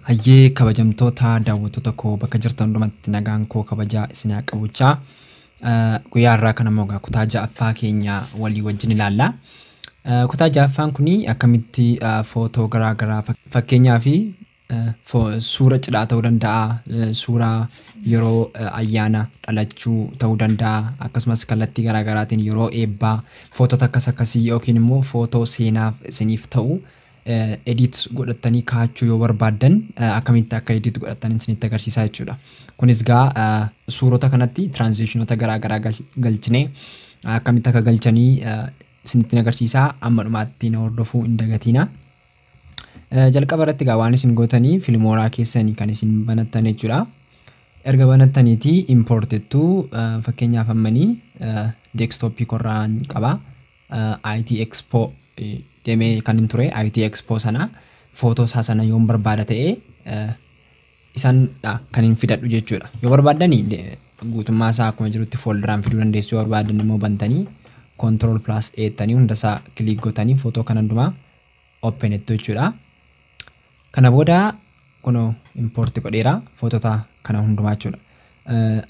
Hayyee kabajamtoota daawwattoota koo bakka jirtan hundumatti nagaan koo kabajaa isin haa qabuchaa. Guyyaa har'aa kana immoo egaa kutaa ja'affaa keenya walii wajjin ilaalla. Eh, Kutaa ja'affaan kun akkamitti eh, footoo garaa garaa fak- fakkeenyaa fi Suura cidhaa ta'uu danda'a, suura yeroo ayyaana dhalachuu ta'uu danda'a, akkasumas kallattii garaa garaatiin yeroo eebbaa footoota akkas akkasii yookiin immoo footoo seenaaf isiniif ta'u edit godhattanii kaa'achuu yoo barbaaddan akkamitti akka edit godhattan isinitti agarsiisaa jechuudha. Kunis gaa suurota kanatti tiraanzishinota garaa garaa galchinee akkamitti akka galchanii isinitti agarsiisaa amma dhumaatti na hordofuu hin dagatiina. Jalqaba irratti egaa waan isin gootanii filmooraa keessanii kan isin banattan jechuudha. Erga banattaniitii import jettu fakkeenyaaf ammanii deekstooppii korraan qaba. IT Expo demee kan hin ture IT Expo sana footoo isaa sana yoon barbaada ta'e isanidha kan hin fidadhu jechuudha. Yoo barbaaddani guutummaa isaa akkuma jirutti fooldaraan fiduu dandeessu yoo barbaadan immoo bantanii control plus eettanii hunda isaa kiliik gootanii footoo kan hundumaa open ittu jechuudha. Kana booda kunoo import godheera footota kana hundumaa jechuudha.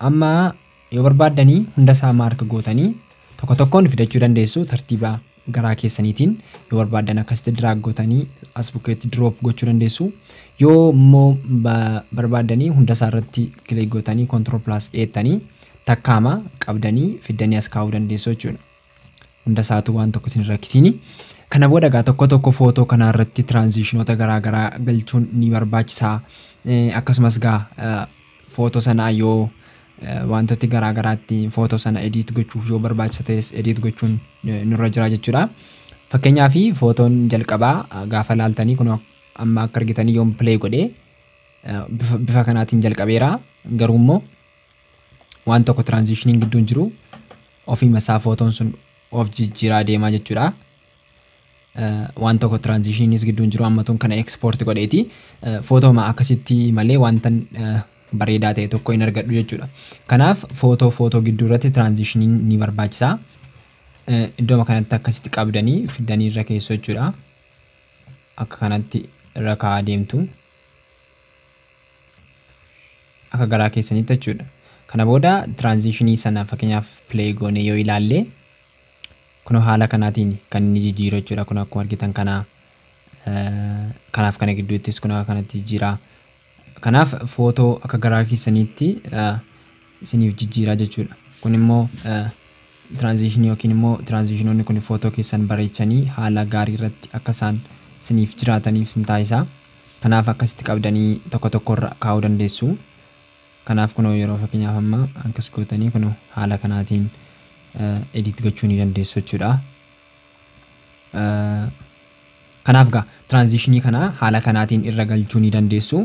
Amma yoo barbaaddanii hunda isaa maark gootanii tokko tokkoon fidachuu dandeessu tartiiba garaa keessaniitiin yoo barbaaddan akkasitti diraag gootanii as bukkeetti diroop gochuu dandeessu. Yoo immoo barbaaddanii hunda isaa irratti kilik gootanii kontirool pilaas eettanii takkaama qabdanii fiddanii as kaa'uu dandeessu jechuudha. Hunda isaatu waan tokko isin rakkisiini. Kana booda egaa tokko tokko footoo kanaa irratti tiraanziishinoota garaa garaa galchuun ni barbaachisa. Akkasumas egaa footoo sana yoo wantooti garaa garaatti footoo sana ediit gochuuf yoo barbaachisa ta'es ediit gochuun nurra jira jechuudha. Fakkeenyaa fi footoon jalqabaa gaafa laaltanii kun amma akka argitanii yoon pilee godhee bifa kanaatiin jalqabeera. Garuu immoo waan tokko tiraanzishiniin gidduun jiru ofiima isaa footoon sun of jijjiiraa deemaa jechuudha. Waan tokko tiraanzishiniinis gidduun jiru ammatuun kana ekspoorti godheeti. Footooma akkasitti malee wanta bareedaa ta'e tokko hin argadhu jechuudha. Kanaaf footoo footoo gidduu irratti tiraanzishiniin ni barbaachisa. Iddooma kanatti akkasitti qabdanii fiddanii irra keessoo jechuudha. Akka kanatti irra kaa'aa deemtu. Akka garaa keessaniitti jechuudha. Kana booda tiraanziishinii sana fakkeenyaaf play goonee yoo ilaalle kunoo haala kanaatiin kan inni jijjiiru jechuudha. Kun akkuma argitan kana eh, kanaaf kana gidduuttis kun akka kanatti jijjiira. Kanaaf footoo akka garaa keessaniitti eh, isiniif jijjiiraa jechuudha. Kun immoo eh, tiraanziishinii yookiin immoo tiraanziishinoonni kun footoo keessan bareechanii haala gaarii irratti akka isaan isiniif jiraataniif isin taasisa. Kanaaf akkasitti qabdanii tokko tokko irra kaa'uu dandeessu. Kanaaf kunoo yeroo fakkeenyaaf amma akkas gootanii kunoo haala kanaatiin edit gochuu ni dandeessu jechuudha. Kanaaf gaa tiraanzishinii kana haala kanaatiin irra galchuu ni dandeessu.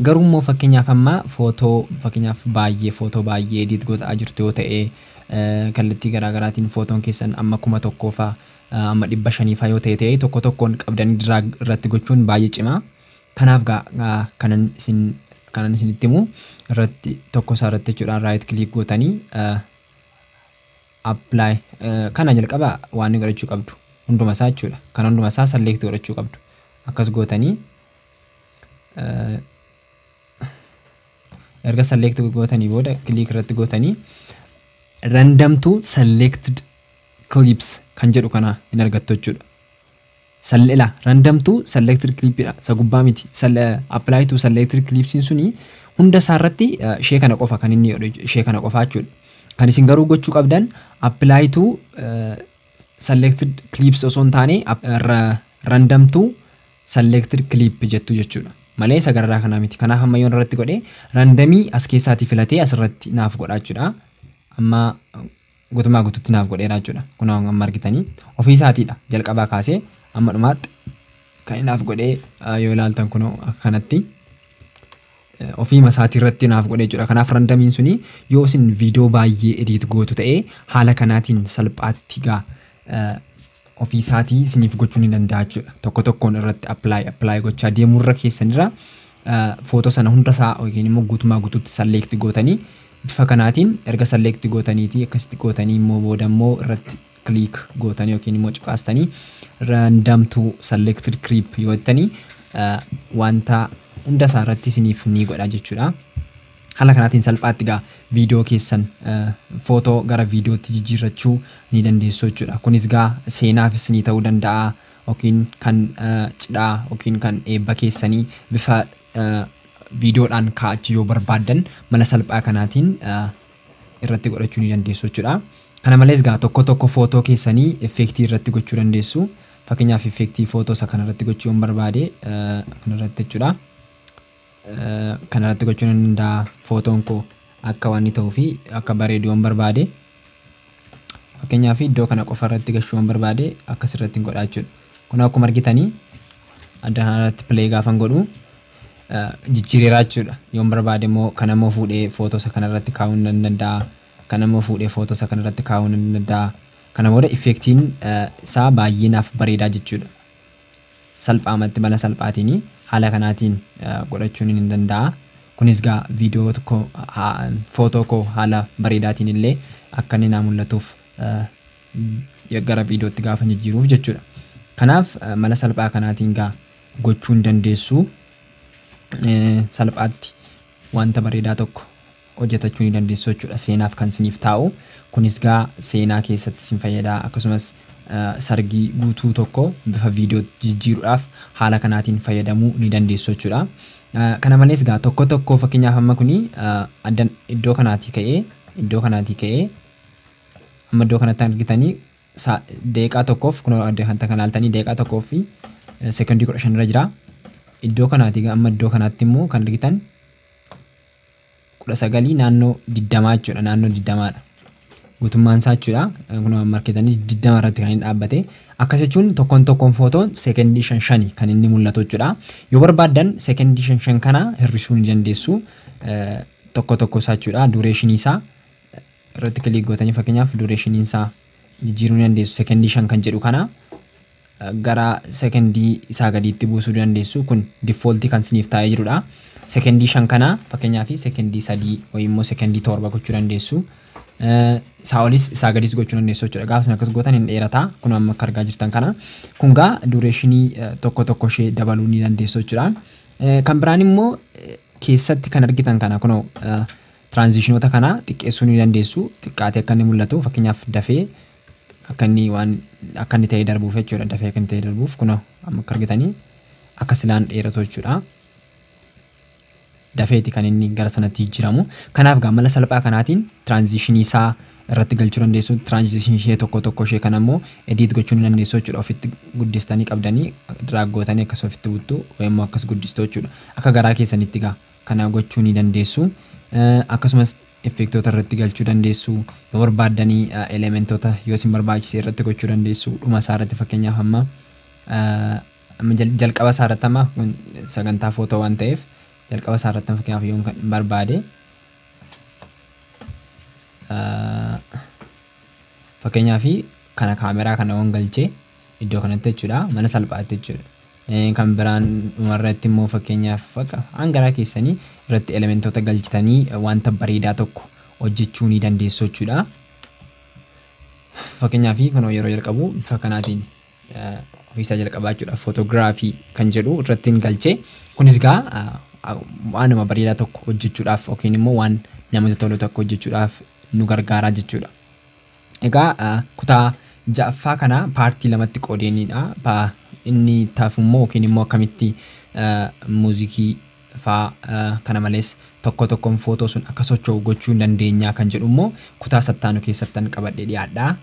Garuu immoo fakkeenyaaf amma footoo fakkeenyaaf baay'ee footoo baay'ee edit gootaa jirtu yoo ta'e kallattii garaagaraatiin footoon keessan amma kuma tokkoofa Amma 500 faa yoo ta'e ta'ee tokko tokkoon qabdanii drag irratti gochuun baay'ee cima. Kanaaf gaa kanan isin kanan isinitti himu irratti tokko isaa irratti jechuudhaan right click gootanii apply kana jalqaba waan godhachuu qabdu hunduma isaa jechuudha. Kan hunduma isaa select godhachuu qabdu. Akkas gootanii erga select gootanii booda click irratti gootanii random to selected clips kan jedhu kana hin argattu jechuudha. Sal- ila random to selected clip dha isa gubbaa miti Sal- eh, apply to selected clips suni hunda isaa irratti eh, ishee kana qofa kan inni godhu jechu- ishee kana qofa jechuudha kan isin garuu gochuu qabdan apply to eh, selected clips osoo hin taane app- eh, ra- random to selected clip jettu jechuudha malee isa gararaa kanaa miti kanaaf amma yoon irratti godhe randamii as keessaatii filatee asirratti naaf godha jechuudha amma gutumaa gututti naaf godheera jechuudha. Kun amma argitanii ofii isaatiidha jalqabaa kaasee amma dhumaatti kan inni naaf godhee yoo ilaaltan kun akkanatti ofiima isaatii irratti naaf godhee jechuudha. Kanaaf randamiin suni yoo isin viidiyoo baay'ee ediit gootu ta'ee haala kanaatiin salphaatti gaa ofii isaatii isiniif gochuu ni danda'a jechuudha. Tokko tokkoon irratti apply apply gochaa deemuu irra keessan irra footoo sana hunda isaa yookiin immoo guutumaa guutuutti select gootanii bifa kanaatiin erga select gootaniitii akkasitti gootanii immoo booda immoo irratti click gootanii yookiin immoo cuqaastanii random to selected clip yoo jettanii wanta hunda isaa irratti isiniif ni godha jechuudha. Haala kanaatiin salphaatti egaa viidiyoo keessan footoo gara viidiyootti jijjiirrachuu ni dandeessu jechuudha. Kunis egaa seenaaf isinii ta'uu danda'a yookiin kan cidhaa yookiin kan eebba keessanii bifa viidiyoodhaan kaa'achuu yoo barbaaddan mala salphaa kanaatiin irratti godhachuu ni dandeessu jechuudha. Kana malees egaa tokko tokko footoo keessanii effeektii irratti gochuu dandeessu. Fakkeenyaaf effeektii footoo isa kanarratti gochuu yoon barbaade kanarratti jechuudha. Kana irratti gochuun hin danda'a footoon koo akka waan inni ta'uu fi akka bareedu waan barbaade fakkeenyaaf iddoo kana qofa irratti gashuu waan barbaade akkas irratti hin godhaa jechuudha. Kun akkuma argitanii adda kana irratti play gaafan godhu jijjiireeraa jechuudha. Yoon barbaade immoo kana immoo fuudhee footoosa kana irratti kaa'uu nan danda'a. Kana immoo fuudhee footoosa kana irratti kaa'uu nan danda'a. Kana booda effektiin isaa baay'ee naaf bareedaa jechuudha. salphaamatti mala salphaatiin haala kanaatiin godhachuun ni danda'a. Kunis gaa viidiyoo koo footoo koo haala bareedaatiin illee akka inni naa mul'atuuf gara viidiyootti gaafa jijjiiruuf jechuudha. Kanaaf mala salphaa kanaatiin gaa gochuu ni dandeessu. Salphaatti wanta bareedaa tokko hojjatachuu ni dandeessu jechuudha seenaaf kan siniif taa'u kunis gaa seenaa keessatti sin fayyada akkasumas sargii guutuu tokko bifa viidiyoo jijjiiruudhaaf haala kanaatiin fayyadamuu ni dandeessu jechuudha kana malees gaa tokko tokko fakkeenyaaf amma kuni addan iddoo kanaatii ka'ee iddoo kanaatii ka'ee amma iddoo kanatti argitanii deeqaa tokkoof kun adda kan kan laaltanii deeqaa tokkoof fi sekondii kudha shan irra jira iddoo kanaatii amma iddoo kanaatti immoo kan argitan kudha sagalii naannoo digdamaa jechuudha naannoo digdamaadha guutummaan isaa jechuudha kun waan marketanii digdama irratti kan inni dhaabbate akkas jechuun tokkoon tokkoon footoon seekendii shan shani kan inni mul'atu jechuudha yoo barbaaddan seekendii shan shan kana hir'isuu ni dandeessu tokko tokko isaa jechuudha duureeshinii isaa irratti kiliik gootanii fakkeenyaaf duureeshinii isaa jijjiiruu ni dandeessu seekendii shan kan jedhu kana gara sekendii isaa gadiitti buusuu dandeessu. Kun default kan isiniif taa'ee jirudha. Sekendii 5 kana fakkeenyaaf sekendii 3 wayii immoo sekendii 7 gochuu dandeessu. Isaa olis isaa gadis gochuu dandeessu jechuudha. Gaafa isin akkas gootan hin dheerata. Kun amma akka argaa jirtan kana. Kun gaa dureeshinii tokko tokko ishee dabaluu ni dandeessu jechuudha. Kan biraan immoo keessatti kan argitan kana kunoo tiraanzishinoota kana xiqqeessuu ni dandeessu. Xiqqaatee akka inni mul'atu fakkeenyaaf dafee akka inni waan akka inni ta'ee darbuuf jechuudha dafee akka inni ta'ee darbuuf kunoo amma akka argitanii akka silaan dheeratu jechuudha. Dafeeti kan inni gara sanatti jijjiiramu. Kanaaf gaa mala salphaa kanaatiin tiraanzishinii isaa irratti galchuu dandeessu. Tiraanzishinii ishee tokko tokko ishee kan ammoo ediit gochuu ni dandeessu jechuudha. Ofitti guddistanii qabdanii diraaggootanii akkas ofitti buttu yemmuu akkas guddistu jechuudha. Akka garaa keessanitti gaa kana gochuu ni dandeessu. Akkasumas effeektoota irratti galchuu dandeessu. Yoo barbaaddan elementota yoo isin barbaachise irratti gochuu dandeessu. Dhuma isaa irratti fakkeenyaaf amma jalqaba isaa irratti amma sagantaa footoo waan ta'eef jalqaba isaa irratti fakkeenyaaf yoon kan barbaade fakkeenyaaf kana kaameraa kana waan galchee Iddoo kanatti jechuudha mana salphaatti jechuudha. Kan biraan dhuma irratti immoo fakkeenyaaf bakka waan garaa keessanii irratti elementoota galchitanii wanta bareedaa tokko hojjechuu ni dandeessu jechuudha. Fakkeenyaaf kunoo yeroo jalqabu bifa kanaatiin ofiisaa jalqabaa jechuudha. Footogiraafii kan jedhu irratti hin galchee. Kunis gaa waanuma bareedaa tokko hojjechuudhaaf yookiin immoo waan namatti tolu tokko hojjechuudhaaf nu gargaaraa jechuudha. Egaa kutaa 6ffaa kana paartii lamatti qoodeenidha. Inni itti hafu immoo yookiin immoo akkamitti muuzikii faa kana malees tokko tokkoon footoo sun akka socho'u gochuu dandeenya kan jedhu immoo kutaa sattaanu keessattan qabadhee dhiyaadha.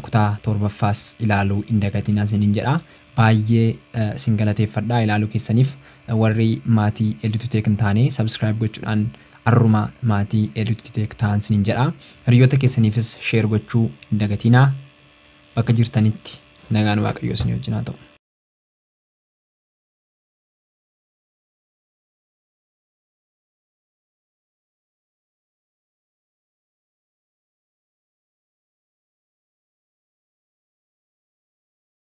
Kutaa torbaffaas ilaaluu hin dagatinaa isiniin jedha. Baayyee isin galateeffadha ilaaluu keessaniif. Warri maatii Elditu Tech hin taane subscribe gochuudhaan arruma maatii Elditu Tech ta'aa isiniin jedha. Hiriyyoota keessaniifis share gochuu hin dagatiinaa. Bakka jirtanitti nagaan Waaqayyoo isinii wajjin haa ta'u.